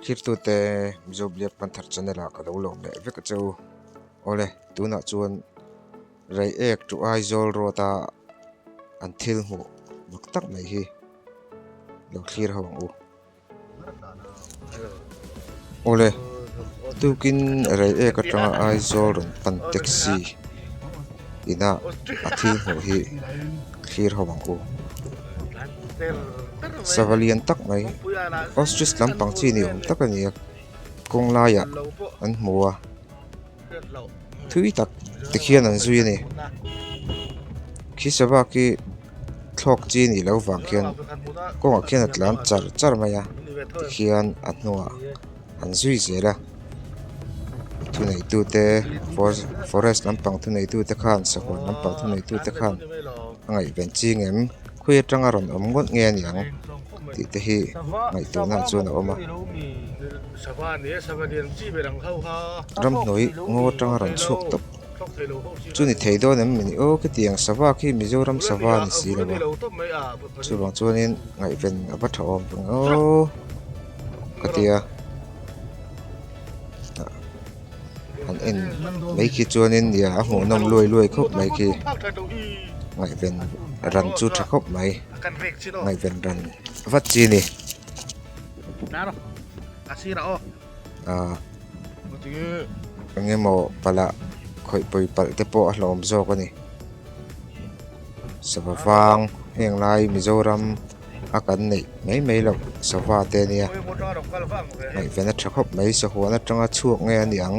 Hlirtute Mizo Blear Panthar Channel-a ka lo lawm leh vek a che u. Awle, tunah chuan Reiek ṭu Aizawl Road-a an thil hmuh bawk tak mai hi lo thlir ho ang u. Awle, tukin Reiek aṭanga Aizawl rawn pan taxi inah a thil hmuh hi. thlir ho ang ku sava lian tak mai ostrich lampang chi ni awm tak a ni a kawng laiah an hmu a thui tak te khian an zui a ni khi sava khi thlawk chi nih loh vang khian kawngah khian a tlan char char mai a tikhian a hnungah-- an zui zel a thuneitute forest lampang thuneitute khan sakawr lampang thuneitute khan a ngaihven ching em khawi atanga rawn awm ngawt nge a niang tih te hi ngaihtuahna chuan a awm a ramhnuai ngaw atanga rawn chhuak tawp chu ni thei dawn em a ni aw khetiang sava khi mizoram sava a ni si lo va chuvang chuanin ngaihven a va tha awm tawh ang aw. ka tia an en mai khi chuan in nia a hmuh nawm luai luai khawp mai khi ngaihven ran chu tha khawp mai ngaihven ran vat chi a ni ah eng emaw pala khawihpui palh te pawh a hlawm zawk a ni sava vang heng lai mizoram. a kan neih mai mai lo sava te nia ngaih vena tha khawp mai sahuan atanga chhuak nge a niang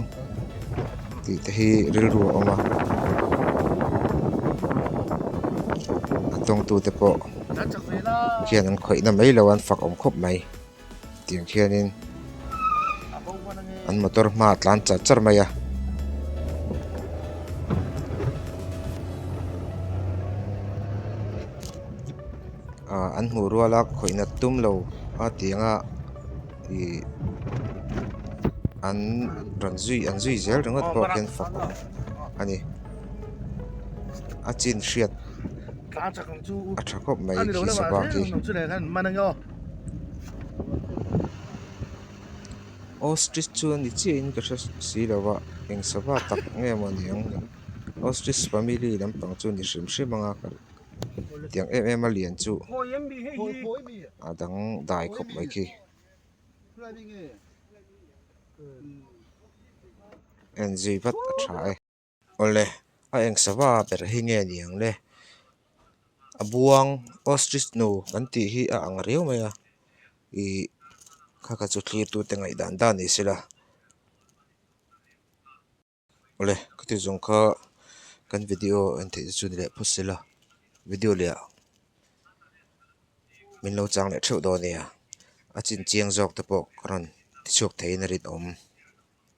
tih te hi rilru a awm a an tawngtute pawh khian an khawihna mai lo an fak awm khawp mai. Tiang khianin an motor hma a tlan char char mai a. Ah an hmuh rual a khawihna tum lo a tianga ih an rawn zui an zui zel ringawt pawh khian fawk a ni. A chin hriat a tha khawp mai khi sava khi. Ostrich chuan ni chiahin ka hre si lo a, eng sava tak nge maw ni ang ni? Ostrich family lampang chu ni hrim hrim anga ka tiang em em a lian chu a dang dai khawp mai khi. En zui vat a tha e. Awle, a eng sava ber hi nge ni ang le? A buang ostrich nu kan tih hi a ang riau mai a, ih kha kha chu thlirtute ngaihdan dan ni sela. Awle, khati zawng kha kan video en theih te chu ni leh phawt sela, video leh ah min lo chang leh theuh dawn nia, a chinchiang zawk te pawh ka rawn ti chhuak thei in a rinawm.